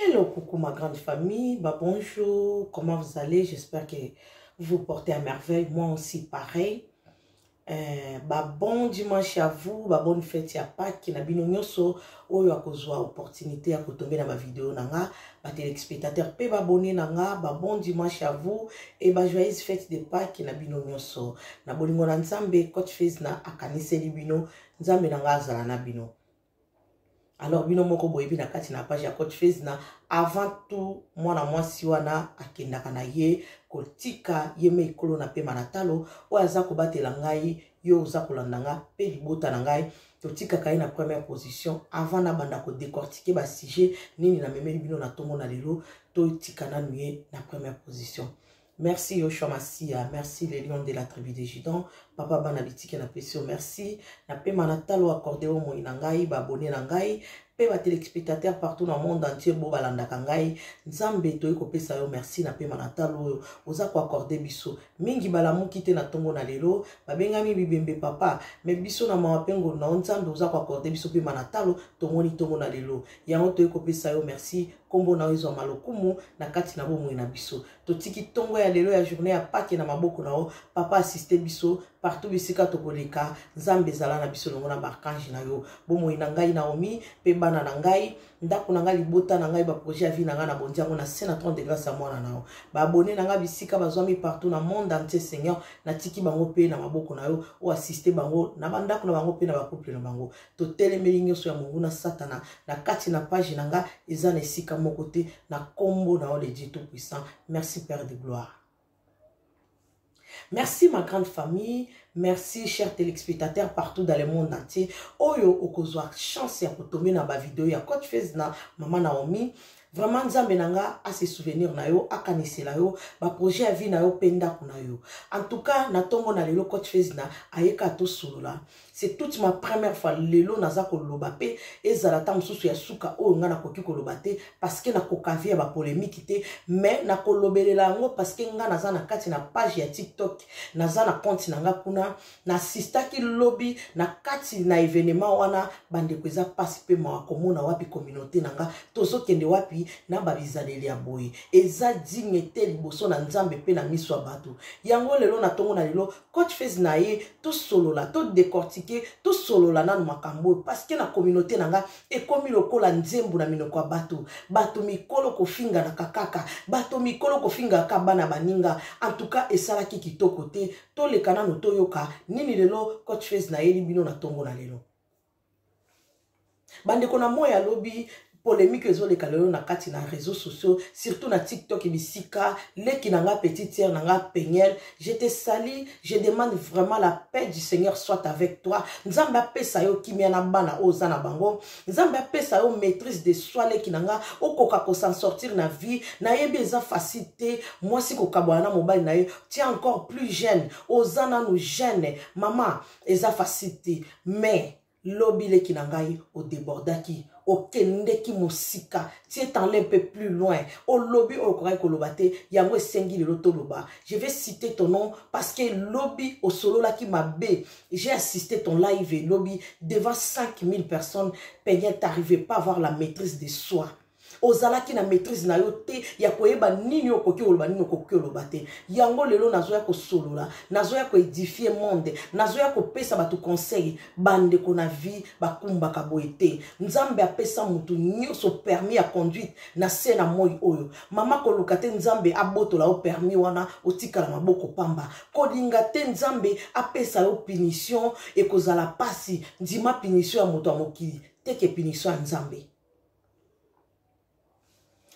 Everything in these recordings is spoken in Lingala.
Hello, coucou ma grande famille. Bah, bonjour, comment vous allez J'espère que vous portez à merveille. Moi aussi, pareil. Euh, bah, bon dimanche à vous, bah, bonne fête à Pâques. Na bino nyoso, oyo akozwa opportunité à tomber dans ma vidéo nanga, bah, téléspectateurs pe abonné nanga, bah, bon dimanche à vous et bah, joyeuse fête de Pâques na bino nyoso. Na bolingo na Nzambe, coach Fez na akaniseli bino, Nzambe nanga azala na bino. alors bino moko boyebi na kati na page ya coach fezna avant tout mwana mwasi wana akendaka na ye kotika ye me ekolo na pema na talo oyo aza kobatela ngai yo oza kolanda nga mpe libota na ngai totikaka ye na première position avant nabanda kodecortike basujet nini namemeli bino na ntongo na lelo totika nanu ye na première position Merci Yoshua Masiya, merci le lion de la tribu de Judan, papa bana bitike na pesio, merci na pema na talo accordé au moyi na ngai, ba abonné na ngai, pe ba téléspectateurs partout na monde entier bo balandaka ngai, nzambe toyi kopesa yo merci na pema na talo oyo, oza ko accordé biso, mingi balamuki te na tongo na lelo, babengami bibembe papa, me biso na mawa pe ngolu na yo nzambe oza ko accordé biso pema na talo, tomoni tongo na lelo, yango toyi kopesa yo merci, kombo na yo ezwa malokumu na kati na bomoi na biso. totiki ntongo ya lelo ya journée ya pake na maboko na yo papa asiste biso partout bisika tokoleka nzambe ezala na biso elongo na baarkange na yo bomoi na ngai naomi mpe bana na ngai ndako na ngai libota na ngai baprojet ya vie na ngai na bondi yango na se na 30 de grâce ya mwana na yo baabone na ngai bisika bazwami partout na monde entier seigneur natiki bango mpe na maboko na yo oyo asiste bango na bandako na bango mpe na bacouple na bango totelemeli nyonso ya monguna satana na kati na page na nga eza na esika moko te na nkombo na yo le dieu tout puissant merci père de gloire merci ma grande famille merci cher téléspectateur partout dans le monde entier oyo okozwa chance ya kotombe na bavideo ya coach fez na mama naomi vraiment nzambe na nga ase souvenir na yo akanisela yo baprojet ya vie na yo mpe ndako na yo en tout cas na ntongo na lelo coach fesna ayeka tosolola c'est toute ma première fois lelo naza koloba mpe ezala ntango mosusu ya suka oyo ngai nakoki koloba te parceke nakoka vie ya bapolemiki te mais nakolobelela yango parceke ngai naza na kati na page ya tiktok naza na compte na ngai kuna nasistaki lobi na kati na evenema wana bandeko eza mpasi mpe mawa komona wapi kominauté na nga tozokende wapi na babizaleli ya boye eza digne te liboso na nzambe mpe na miso ya bato yango lelo na ntongo na lelo coach fase na ye tosolola todecortike tosolola nano makambo oyo parceke na kominauté na nga ekomi lokola nzembo na minoko ya bato bato mikolo kofinganaka kaka bato mikolo kofingaka bana baninga antuka esalaki kitoko te toleka nanu toyoka nini lelo coach face nayeli bino na tongo na lelo bandeko na moi ya lobi polemique ezoleka lelo na kati na réseaux sociaux surtout na tiktok bisika leki na nga petite sœur na nga peniel je te sali je demande vraiment la paix du seigneur soit avec toi nzambe apesa yo kimia na bana oyo oza na bango nzambe apesa yo maîtrise de soi leki na nga okoka kosan sortir na vie nayebi eza facile te mwasi kokabwana na mobali na ye tu es encore plus jeune oza nanu jeune mama eza facile te mais lobi leki na ngai odebordaki okendeki mosika tie tanle mpe plus loin olobi oyo okokaki koloba te yango esengi lelo toloba je vais citer ton nom parce que lobi osololaki mabe j'ai assisté ton live elobi devant 5000 personnes peignette t'arrivais pas avoir la maîtrise de soi ozalaki na maîtrise na yo te ya koyeba nini okoki koloba nini okoki koloba te yango lelo nazoya kosolola nazoya koedifie monde nazoya kopesa bato conseil bandeko na vie bakumbaka boye te nzambe apesa motu nyonso permis ya conduite na se na moi oyo mama koluka te nzambe abotola yo permis wana otikala maboko pamba kolinga te nzambe apesa yo punition ekozala mpasi ndima punition ya moto ya mokili teke punition ya nzambe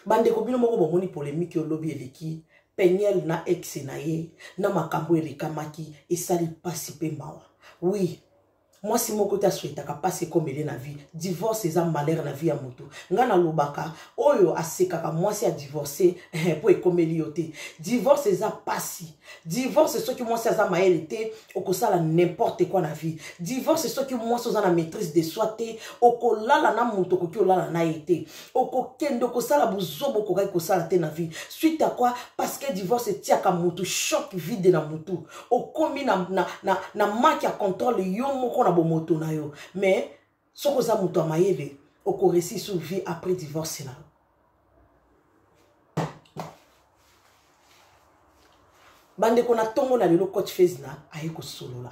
bandeko bino moko bomoni polemike oyo lobi eleki peniel na exe na ye na makambo elekamaki esali mpasi mpe mawa wi mwasi moko te aswetaka mpasi ekomele na vie divorce eza malere na vie ya motu ngai nalobaka oyo asekaka mwasi ya divorce mpo ekomeli yo te divorce eza mpasi divorce soki mwasi aza mayele te okosala n'importe quoi na vie divorce soki mwasi oza na maîtrise de soi te okolala na moto okoki olala na ye te okokende okosala buzoba okokaki kosala te na vie suite à quoi parce que divorce etiaka motu choc vide na motu okomi na, na, na, na manque ya contrôle yo moko na bomoto na yo mais soki oza moto ya mayele okoresi sur vie après divorce na yo bandeko na ntongo na lelo coach fezna aye kosolola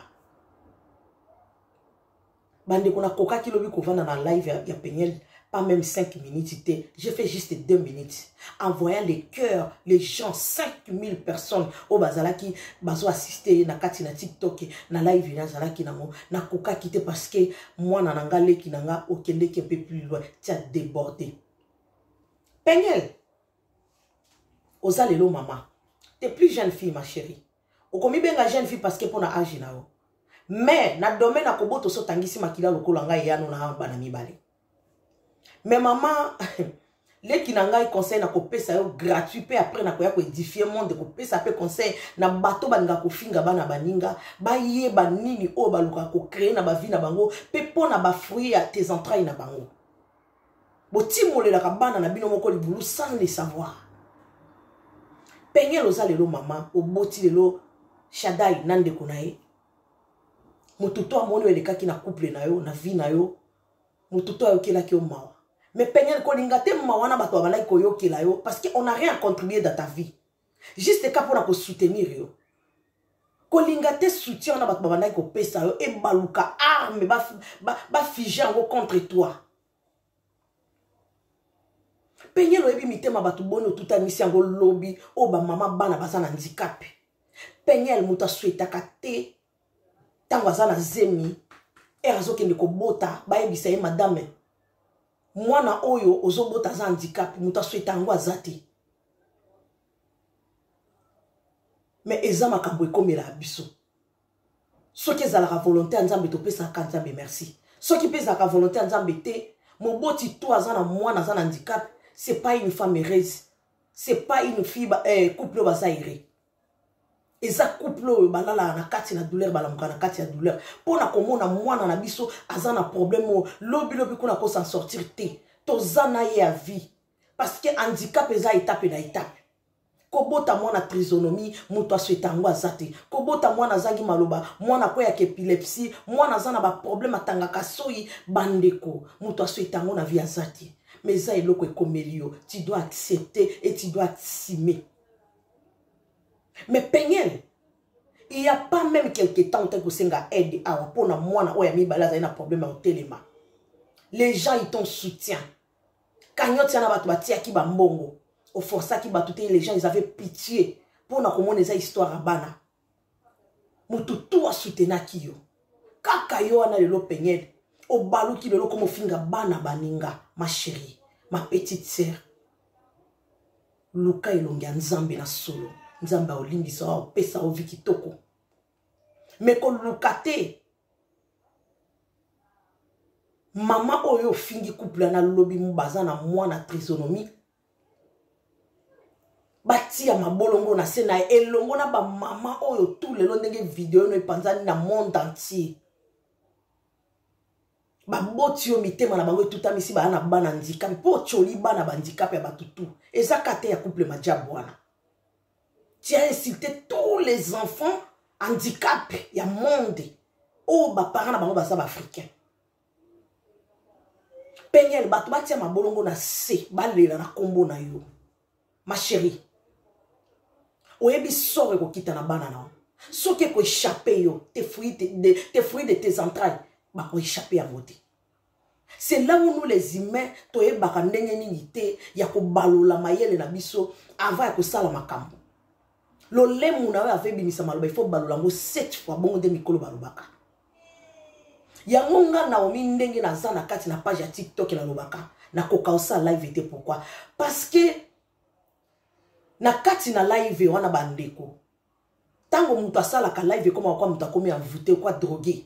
bandeko nakokaki lobi kovanda na live ya, ya peniel pas même 5 minutes te je fais juste 2 minutes en voyant les cœurs les gens 5000 personnes oyo bazalaki bazo assiste ye na kati na tiktok na live ye nazalaki nango nakokaki te parce que mwana na nga leki na nga okendeki un peu plus loin tia déborde peniel oza lelo mama te plus jeune fille ma chérie okomibenga jeune fille parce que mpo na age na yo mais na domaine ya kobotoso otangisi makila lokola ngai eyano na bana mibale mais mama leki na ngai conseil nakopesa yo gratuit mpe après nakoya koedifie monde kopesa mpe conseil na bato balinga kofinga bana baninga bayeba nini oyo balukaka kocree na bavi na bango mpe mpo na bafruit ya tes entrailles na bango botimolelaka bana na bino moko libulu sans le savoir pengele oza lelo mama oboti lelo shadai na ndeko na ye moto to amoni oyo elekaki na couple na yo na vie na yo moto to ayokelaki yo mawa mais peniel kolinga te mawa na bato babalaki koyokela yo parce que on a rien contribué dans ta vie juste ka mpona kosoutenir yo kolinga te soutien wana bato babandaki kopesa yo ebaluka arme bafige yango contre toi peniel oyebi mitema bato boni otutanisi yango lobi oyo bamama bana baza na handikape peniel moto aswetaka te ntango aza na zemi ere azokende kobota bayebisa ye madame mwana oyo ozobota aza handicap moto asweta yango aza te me eza makambo ekomela biso soki ezalaka volonté ya nzambe topesaka nzambe merci soki mpe ezalaka volonté ya nzambe te moboti to aza na mwana aza na handicap c'est pas une femme heureuse c'est pas une fille eh, couple oyo baza ere eza couple oyo balalaka na kati na douleur balamuka na kati ya douleur mpo na komona mwana na biso aza na problème oyo lobilobi kuna kosan sortir te toza na ye ya vie parce que handicap eza etape na etape kobota mwana trisonomie moto asweta yango aza te kobota mwana azangi maloba mwana akweyaka epilepsie mwana aza na baproblème atangaka soyi bandeko moto asweta yango na vie aza te mais eza eloko ekomeli yo tu dois accepter et tu dois assumer Mais Peniel, il n'y a pas même quelque temps que Senga aide à pour la moine ou ami balaza un problème au téléma. Les gens ils t'ont soutien. Cagnotte yana batu batia ki ba mbongo. Au força ki batu les gens ils avaient pitié pour na komona eza histoire à bana. moto tu asutenaki yo kaka yo wana lelo peniele obaluki lelo koma ofinga bana baninga ma chérie ma petite sœur luka elongi ya nzambe na solo nzambe aolimbisa yo apesa yo vi kitoko me koluka te mama oyo ofingi couple na lobi baza na mwana trisonomie batia mabolongo na se na ye elongo na bamama oyo tu lelo ndenge video no epanzani na monde entier baboti yo mitema na bango etutamisi baya na bana ndikape mpo otyoli bana bandikape ya bato tu eza ka te ya couple majabu wana tu as insulte tous les enfants handicap ya monde oyo baparent na bango baza baafricain peniel bato batia mabolongo na se balela na nkombo na yo ma chérie oyebi soro ekokita na bana na yo soki ekoechappe yo te fruit de, te fruit de tes entrailles bakoechappe yango te c'est là où nous les humains toyebaka ndenge nini te ya kobalola mayele na biso avant ya kosala makambo lolemu na oyo ave ebimisa maloba ifo balola yango set fois bongo nde mikolo balobaka yango nga naomi ndenge naza na kati na page ya tiktok nalobaka nakoka osala live te pourkui parce que na kati na live wana bandeko ntango moto asalaka live ekomaka kwa moto akomi envoute kwa drogue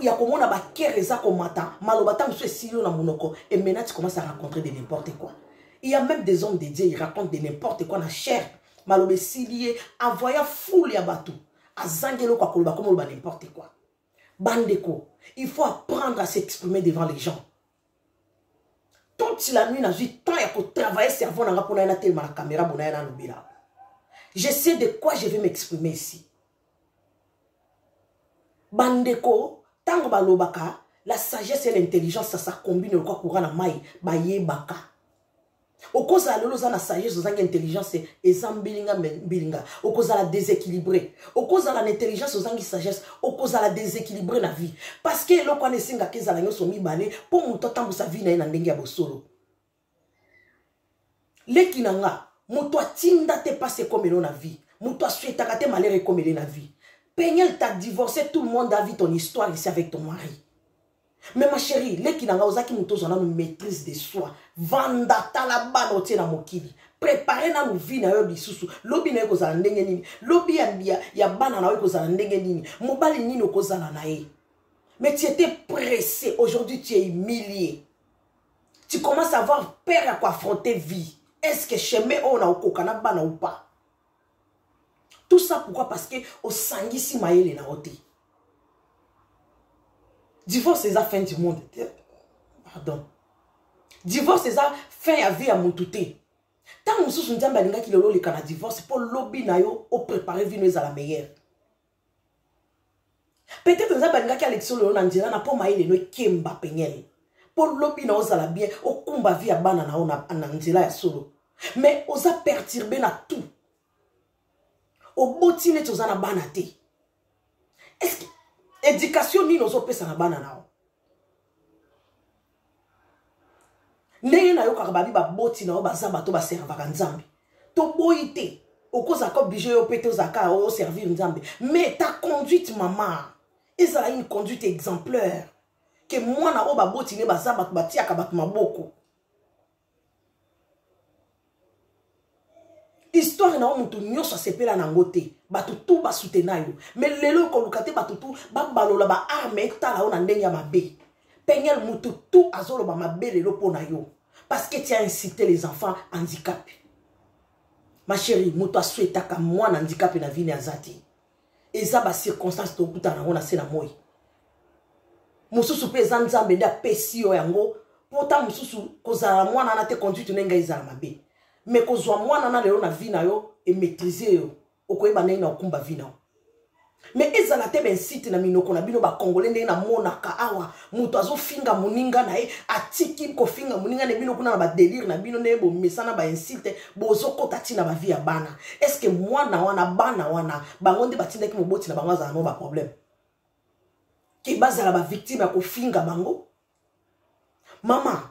ya komona bakere eza komata maloba ntango mosusu esili yo na monoko emena ti commence à rencontrer de n'importe quoi il y a même des hommes de dieu il raconte de n'importe quoi na chair maloba esili ye avoya foule ya bato azangi eloko akoloba komoloba n'importe quoi bandeko il faut apprendre à s'exprimer devant les gens toute la nuit nazwi temps ya kotravaille cerveau na nga mpona ye natelema na caméra bona ye nalobela je sais de quoi je vais m'exprimer ici bandeko ntango balobaka la sagesse et l'intelligence ça s'acombine lokwa courant na mai bayebaka okozala lelo oza na sagesse ozangi intelligence eza mbilinga mbilinga okozala déséquilibré okozala na intelligence ozangi sagesse okozala déséquilibré na vie parce que eloko wana esengaka ezala nyonso mibale mpo moto atambusa vie na ye na ndenge ya bosolo leki na nga moto atinda te pasi ekomelo na vie moto asuetaka te malere ekomele na vie peniel ta divorce tout le monde a vu ton histoire ici avec ton mari mais ma chérie leki na nga ozalaki moto ozwa nanu maîtrise de soi vanda tala bana otie na mokili prepare nanu vi na yo lisusu lobi na yo ekozala ndenge nini lobi ya, ya, ya bana na yo ekozala ndenge nini mobali nini okozala na ye mais tu étais pressé aujourd'hui tu es humilié tu commence à avoir peur ya koaffronter vie est ce que chemin oyo na okoka na bana ou pas tout ça pourquoi parce que osangisi mayele na yo te divorce eza fin du monde te pardon divorce eza fin ya vie ya mutu te ntango mosusu nzambe alingaki lelo oleka na divorce mpo lobi na yo oprepare vino ezala meilleure peut-être nzambe alingaki alekisa lelo na nzela na mpo maye lelo ekemba peniele mpo lobi na ozala bien okumba vi ya bana na yo na nzela ya solo mais oza perturbe na tout oboti neti oza na bana te estce éducation nini ozopesa na bana na yo ndenge nayokaka babi baboti na yo baza bato baservaka nzambe toboyi te okozala ko oblige yo mpe tozalaka oservir nzambe mais ta conduite mama ezala une conduite exemplaire ke mwana oyo baboti ne baza bato batiaka bato maboko histoire na yo moto nyonso asepela na yango te bato tu basutena yo me lelo okoluka te bato tu babalola baarme etala yo na ndenge ya mabe peniel moto tu azoloba mabe lelo mpo na yo parce que tu as incité les enfants handicapé ma chérie moto aswetaka mwana handicapé na vini aza te eza ba circonstance tokutana yango na se na moi mosusu mpe eza nzambe nde apesi yo yango mpo nta mosusu kozala na mwana wana te conduite na ngai ezala mabe me kozwa mwana na lelo na vi na yo emaîtrise yo okoyeba ndenge na okumba vi na yo me ezala te bensite na minoko na bino bakongole ndenge namonaka awa moto azofinga moninga na ye atiki kofinga moninga na bino kuna na badelire na bino ndenge bomesana bainsulte bozokota ti na bavi ya bana estce mwana wana bana wana bango nde batindaki moboti na bango azala no baproblème ke bazala bavictime ya kofinga bango mama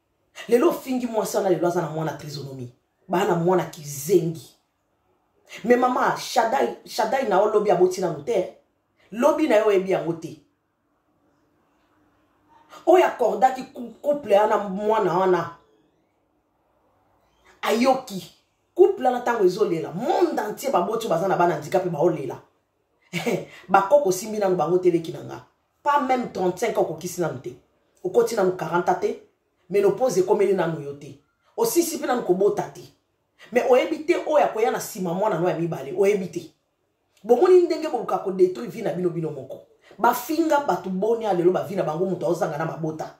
lelo ofingi mwasi wana lelo aza na mwana trisonomie baa na mwana kizengi me mama shadai, shadai na yo lobi aboti nanu te lobi na yo oyebi yango te oyo akordaki couple wana mwana wana ayoki couple wana ntango ezolela monde entier baboti baza na bana ndika mpe baolela bakoko osimbi nanu bango teleki na nga pas même 35 ans okokisi nanu te okoti nanu 40 te menopause ekomeli nanu yo te osisi mpe nanu kobota te me oyebi te oyo akoya na nsima mwana no ya mibale oyebi te bomoni ndenge boluka kodetruire vi na bino bino moko bafinga bato boni ya lelo bavi na bango moto aozanga na mabota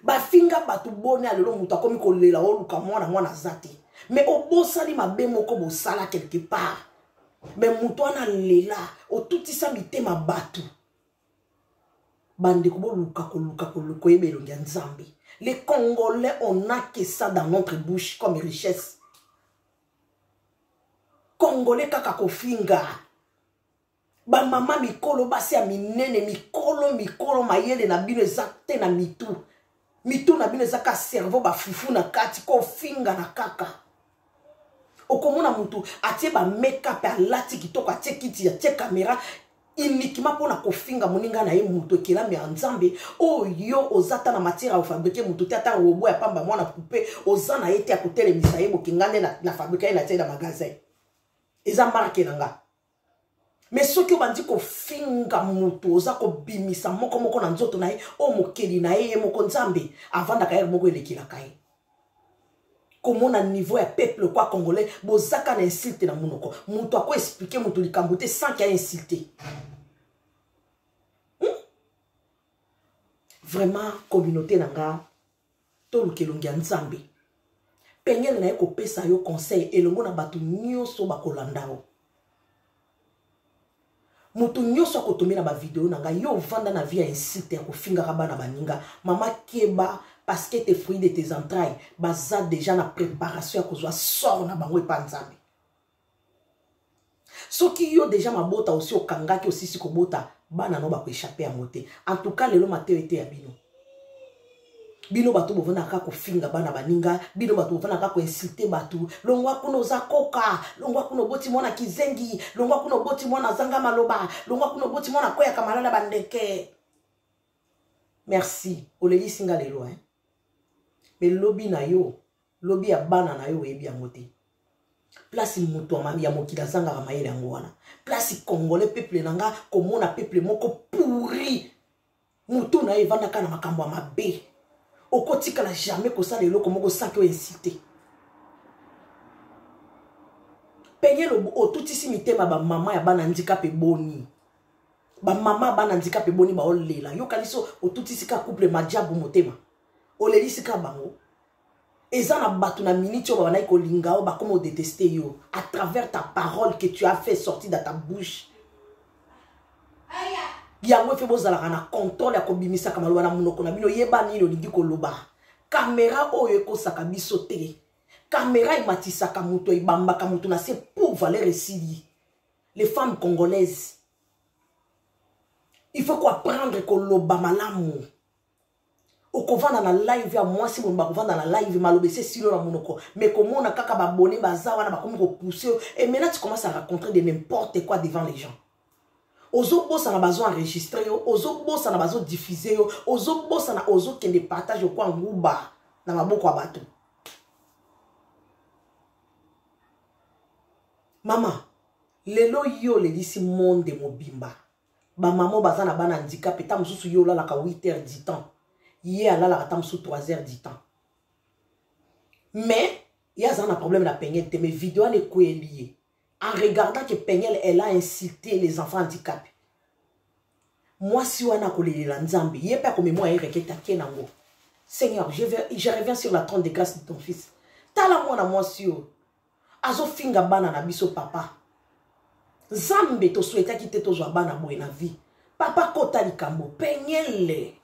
bafinga bato boni ya lelo moto akomi kolela oluka mwana mwana aza te mais obosani mabe moko bosala quelque part mais moto wana alela otutisa mitema bato bandeko boluka koluka koluka oyeba elongi ya nzambe les congolais on a que ça dans notre bouche comme richesse congolais kaka kofinga bamama mikolo basi ya minene mikolo mikolo mayele na bino eza te na mitu mitu na bino eza ka cerveau bafufu na kati kofinga na kaka okomona motu atie bamekap alati kitoko atie kiti atie kamera uniquement mpo na kofinga moninga na ye moto ekelami ya nzambe oyo oh, oza ata na matière ya kofabrike moto te ata robo ya pamba mwana poupe oza na ye te ya kotelemisa ye bokinga nde na fabrika ye na tie na magasin eza marke na nga me soki obandi kofinga motu oza kobimisa moko moko na nzoto na ye oyo mokeli na ye ye moko nzambe avandaka yere moko elekelaka ye komona niveau ya peuple kwa congolais bozaka na insulte na monoko motu akoexplike motu likambo te sans ke ainsulte hmm? vraiment communauté na nga toluka elongi ya nzambe peniele na ye kopesa yo conseil elongo na bato nyonso bakolanda yo moto nyonso akotomela bavideo na ngai yo ovanda na vie ya insite ya kofingaka bana baninga mama keba parceke te fruit de tes entrailles baza deja na préparation ya kozwa sort na bango epa nzambe soki yo deja mabota osi okangaki osisi kobota bana no bakoechappe yango te en tout cas lelo mateyo eteya bino bino bato bovanaka kofinga bana baninga bino bato bovanaka koinsulte bato longwa kuna oza koka longwa kuna oboti mwana kizengi longwa kuna oboti mwana azanga maloba longwa kuna oboti mwana akweyaka malala bandeke merci olelisi nga lelo eh? me lobi na yo lobi ya bana na yo oyebi yango te place moto ya mokili azangaka mayele yango wana place congolais peuple na nga komona peuple moko pourri motu na ye evandaka na makambo ya mabe okotikala jamais kosala eloko moko saki oyo insite peye lobo otutisi mitema bamama ya bana ndikape boni bamama ya bana ndikape boni baolela yokanisi otutisi ka couple majabu motema olelisi ka bango eza na bato na miniti oyo babandaki kolinga yo bakoma odeteste yo à travers ta parole que tu as fait sorti dans ta bouche yango efe bozalaka na contrôle ya kobimisaka maloba na monoko na bino yeba nini olingi koloba kamera oyo ekosaka biso te kamera ematisaka moto ebambaka moto na se pour valeur esili les femmes congolaises il faut koapprendre koloba malamu okovanda na live ya mwasi mono bakovanda na live maloba ese silo na monoko mais komona kaka babone baza wana bakomi kopousse yo et maintenant tu commence à raconter de n'importe quoi devant les gens ozobosana bazo enregistre yo ozobosana bazo diffuse yo ozobosana ozokende partage okwa nguba na maboko ya bato mama lelo yo olelisi monde mobimba ba mama baza na bana handicap eta mosusu ye olalaka 8 heures du temps ye alalaka ata mosusu 3 heures du temps mais ye aza na problème na pengele te mais video wana ekweli ye en regardant que pengele elle a insulté les enfants handicapés mwasi wana akolelela nzambe ye mpe akomemwa ye reketa ke nango seigneur je, vais, je reviens sur la trône de grâce de ton fils tala mwana mwasi oyo azofinga bana na biso papa nzambe tosuetaki te tozwa bana boye na vie papa kota likambo penyele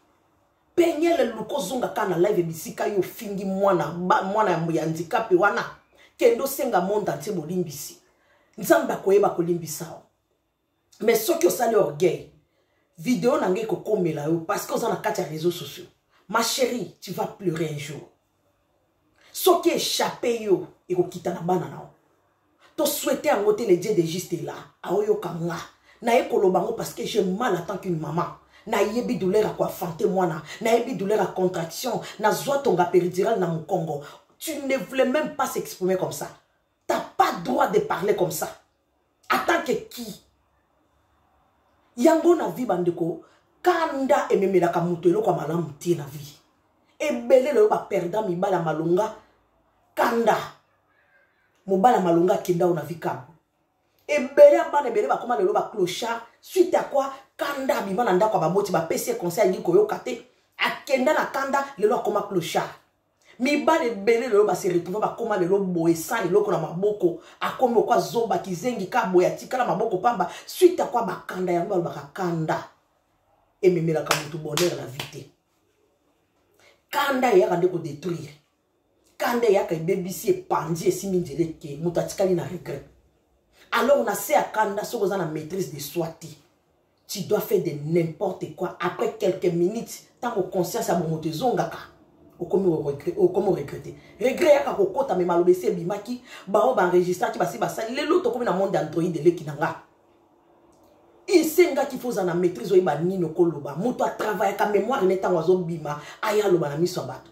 penyele luka ozonga kaka na live bisika yo ofingi mwana mwana ya handikape wana kende osenga monde antie bolimbisi nzambe akoyeba kolimbisa yo mais soki osali orgueil video na ngai ekokomela yo parce que oza na kati ya réseaux sociaux ma chérie tu vas pleurer un jour soki échappe yo ekokita na bana na yo toswete yango te le dieu de juste ela aoyoka nga naye koloba yango parce que je mal attend qu'une maman nayebi douleur ya koafante mwana nayebi douleur ya contraction nazwa tonga péridirale na mokongo tu ne voulais même pas s'exprimer comme ça t'as pas droit de parler comme ça Attends que qui Yango na vie bandeko, kanda ememelaka moto eloko ya malamu te na vie. Ebele lelo ba perdant mibala malonga kanda. Mobala malonga akenda na vie kabo. Ebele ya bana ebele bakoma lelo ba clochard suite à quoi kanda abima na ndako ya baboti bapesi ye conseil alingi koyoka te akenda na kanda lelo akoma clochard mibali ebele lelo base retrouve bakoma lelo boye sans eloko na maboko akomi okwa zoba kizengi ka boye atikala maboko pamba suite akwa bakanda yango balobaka kanda ememelaka motu bonheur na vie te kanda eyaka nde kodetruire kanda eyaka ebebisi epanzi esimbi nzela eke moto atikali na regret alors na se ya kanda soki oza na maîtrise de soi te tu dois faire de n'importe quoi après quelques minutes ntango conscience ya bomoto ezongaka okomi oregrete regret yaka kokota me maloba esi ebimaki baoyo baenregistraki basi basali lelo tokomi na monde android eleki na nga esengaki fo ozala na maîtrise oyeba nini okoloba moto atravayaka mémoire ne ntango azobima aya aloba na miso ya bato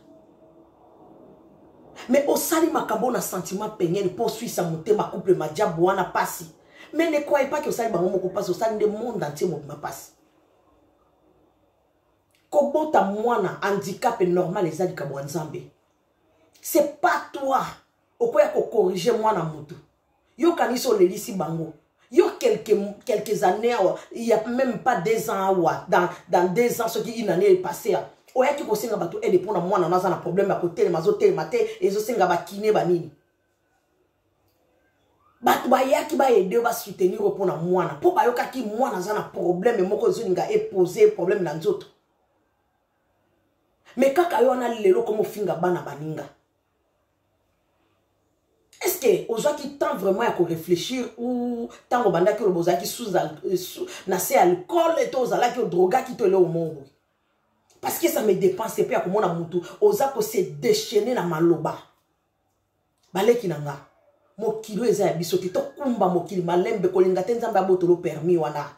me osali makambo na sentiment pengene mpo oswisa motema couple madiabu wana mpasi mais ne croyez pas que osali bango moko mpasi osali nde monde entier mobima mpasi kobota mwana handicap normal eza likambo ya nzambe c'est pas toi okoya kokorige mwana motu yo kanisi olelisi bango yo quelques, quelques années awa il y a même pas deux ans awa dans, dans deux ans soki une année epassé a oyaki kosenga bato aide mpo na mwana no aza na problème ya kotelema azotelema te ezosenga bakine banini bato bayaki baede basoutenir yo mpo na mwana mpo bayokaki mwana aza na probleme moko ezolinga epose probleme na nzoto me kaka yo wana lelo komofinga bana baninga estce ozwaki temps vraiment ya koreflechir ou ntango obandaki oloba ozalaki euh, na se alcool to ozalaki odrogaki to eleo moko boye parce que ça me dépense mpe ya komona motu oza kose déchaine na maloba baleki na nga mokili oyo eza ya biso te tokumba mokili malembe kolinga te nzambe abotolo permis wana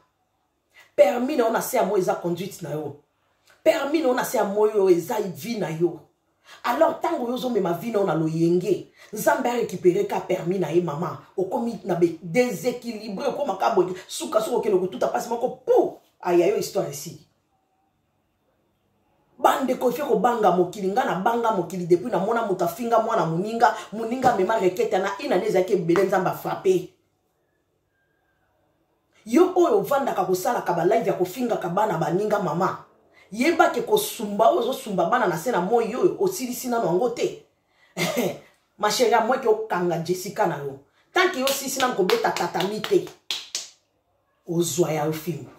permis na yo na se ya moi eza conduite na yo permis na yo na se ya moi oyo eza vie na yo alors ntango oyo ozomema vi na yo na loyenge nzambe arécupere ka permis na ye mama okomi na déséquilibre okomaka boye sukasuka okende kotuta mpasi moko pou aya yo histoire esili bandeko ifie kobanga mokili ngai nabanga mokili depuis namona moto afinga mwana moninga moninga amema reketa na inane ezalaki ebele nzambe afrape yo oyo ovandaka kosalaka balive ya kofingaka bana baninga mama yeba ke kosumba oyo ozosumba bana na se na moi oyo osilisi nano yango te masheri amweke okanga jessica na yo tanke yo osilisi nano kobeta tatami te ozwa ya yo fimbo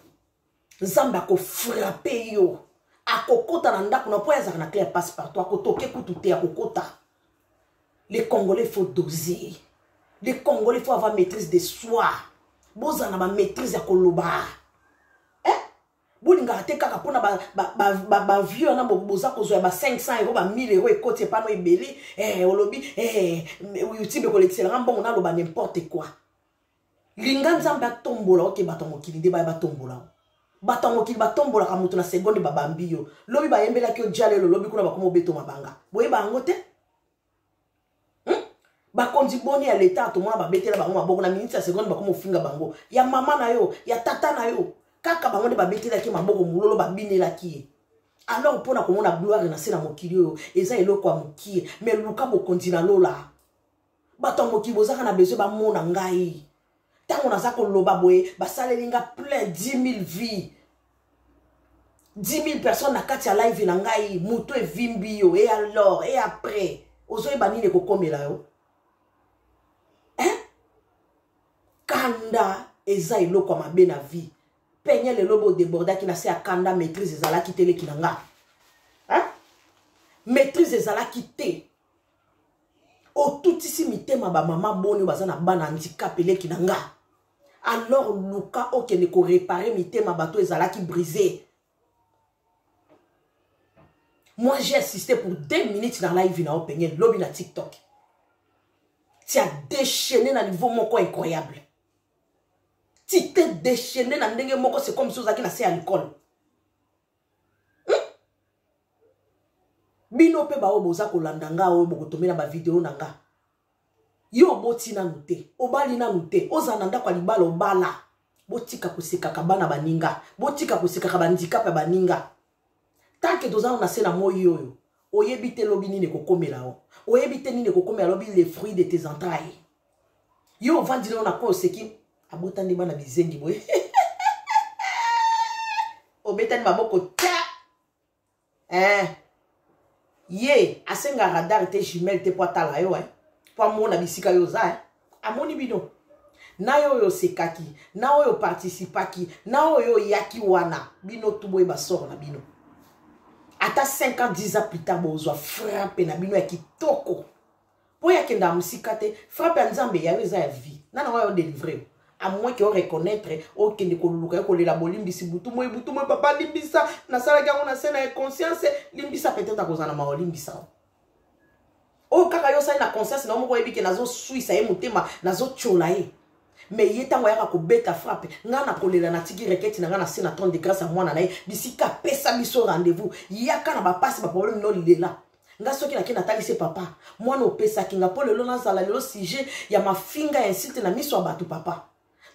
nzambe akofrape yo akokota na ndako na mpo ye azalaka na cle ya passe partout akotoke kutu te akokota le congolais faut doser le congolais faut avoir maîtrise de soi bozala na bamaîtrise ya koloba eh? bolingaka te kaka mpona bavieux wana boza kozwa ya ba 500 euro ba 1000 euro ekoti epano ebele eh, olobi eh, youtube ekolekisela nga mbongo naloba n'importe quoi linga nzambe atombola oke bato ya mokili nde baya batombola bato ya mokili batombolaka moto na segonde babambi yo lobi bayembelaki yo jalelo lobi kuna bakoma obeto mabanga boyeba yango te hmm? bakonzi boni ya leta tomona babetela bango maboko na miniti ya segonde bakoma ofinga bango ya mama na yo ya tata na yo kaka bango nde babetelaki maboko mololo babinelaki ye alors mpo na komona gloire na se na mokili oyo eza eloko ya mokie me luka bokonzi na lola bato ya mokili bozaka na besoin bamona ngai ntango naza koloba boye basaleli nga plein 10000 vie 10000 personnes na kati ya live na ngai moto evimbi yo e alors e après ozoyeba nini ekokomela yo hein? kanda eza eloko ya mabe na vie penye lelo bodebordaki na se ya kanda maîtrise ezalaki te leki na nga hein? maîtrise ezalaki te otutisi mitema bamama boni baza na bana handicap eleki na nga alors luka okende korepare mitema bato ezalaki brise moi j'ai assisté pour deux minutes na live na openge lobi na tiktok tia déchaîné na niveau moko incroyable ti te déchaîné na ndenge moko c'est comme si ozalaki na se ya likolo bino mpe baoyo boza kolanda nga oyo bokotomela bavideo na nga yo oboti nanu te obali nanu te ozala na ndako ya libala obala botika kosekaka bana baninga botika kosekaka bandikape ya baninga tanke tozana na se na moi oyo oyebi te lobi nini ekokomela yo oyebi te nini ekokomela lobi le fruit de tes entrailles yo ovandi leo na coin oseki abotani bana bizengi boye obetani maboko ta eh. ye asenga radar te jumelle te mpo atala yo eh. mpo amona bisika yo oza eh. amoni bino na yo oyo osekaki na oyo participaki na oyo oyaki wana bino tu boyeba soro na bino ata 5 ans 10 ans plus tard bozwa frappe na bino ya kitoko mpo ye akendaka mosika te frappe ya nzambe yayo eza ya vie nana ngo ayo delivre à moins que oreconnaitre okende koluka ye kolela bolimbisi butu moi butu moi papa limbisa nasalaki yango na se na inconscience limbisa peut-être akozala na mawa olimbisa o oyo oh, kaka yo osali na conscience na yo moko oyebi ke nazoswisa ye motema nazotyola ye me ye ntango ayaka kobeta frappe ngai nakolela natiki reketi na ngai na se na 30 de grâce ya mwana na ye bisika apesa biso rendez-vous yaka na bapasi baproblème nolela nga soki nake natalisi papa mwana opesaki nga mpo lelo nazala lelo sujet ya mafinga ya insulte na miso ya bato papa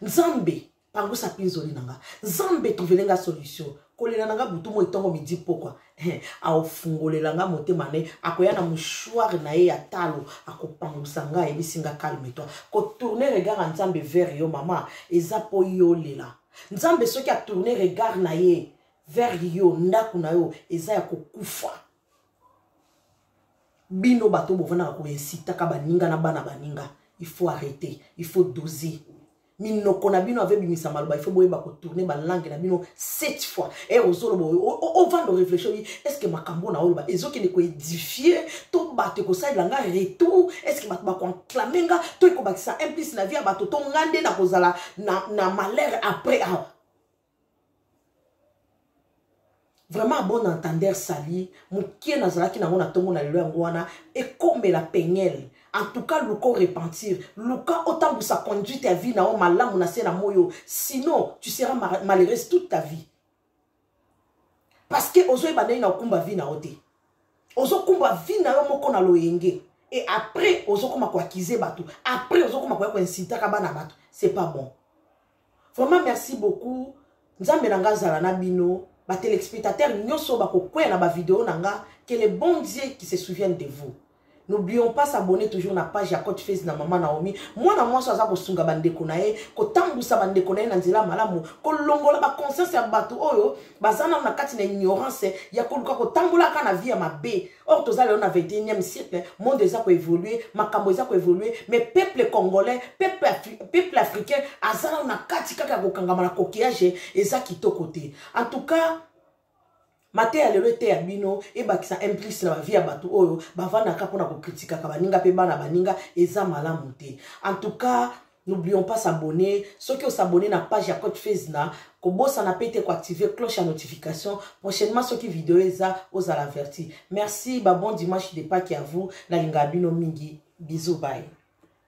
nzambe pangusa pinzoli na nga nzambe tuvele nga solution kolela na nga butu moi ntongo midi pokwa eh, aofungolela nga motema ne akoya na mouchoire na ye ya talo akopangusa nga ayebisi nga calme toi kotourne regard ya nzambe vers yo mama eza mpo yolela nzambe soki atourne regard na ye vers yo ndako na yo eza ya kokufa bino bato bovandaka koinsitaka baninga na bana baninga il faut arrêter il faut doser minoko na bino ave bimisa maloba ifo boyeba kotourne balangue na bino sept fois e ozoloba ovanda oreflechi oyi estce makambo na oloba ezokende koedifie to bato ekosalela nga retour estce bato bakoanclame nga to ekobakisa implice na vie ya bato to nga nde nakozala na, na malheur après awa vraiment bon entendeur sali mokie nazalaki nango na ntongo na lelo yango wana ekomela peniele en tout cas luka orepentir luka otambwisa conduite ya vie na yo malamu na se na moi oyo sinon tu seras malheureuse toute ta vie parce que ozoyeba ndenge na okumba vie na yo te ozokumba vie na yo moko na loyenge et après ozokoma koakize bato après ozokoma koya koinsitaka bana bato c'est pas bon vraiment merci beaucoup nzambe na nga azala na bino batelespectateur nyonso bakokweya na bavideo na nga que le bon dieu qui se souvienne de vous n'oublions pas s'abonner toujours na page ya cote face na mama naomi mwana mwasi aza kosunga bandeko na ye kotambwisa bandeko na ye na nzela malamu kolongola baconscience ya bato oyo baza nano na kati na ignorance ya koluka kotambolaka na vie ya mabe or toza lelo na 21e siècle monde eza koévolue makambo eza koévolue mais peuple congolais peuple, Afri peuple africain aza nano na kati kaka ya kokangama na coquillage eza kitoko te en tout cas mateya lelo eteya bino ebakisa implice na bavie ya bato oyo bavandaka mpona kokritikaka baninga mpe bana baninga eza malamu te en tout cas N'oublions pas s'abonner. Ceux qui ont s'abonné na page ya Coach Fez na kobosana pe te ko activer cloche ya notification. Prochainement ceux qui vidéo eza aux averti. Merci, ba bon dimanche de Pâques à vous. Na linga bino mingi. Bisous, bye.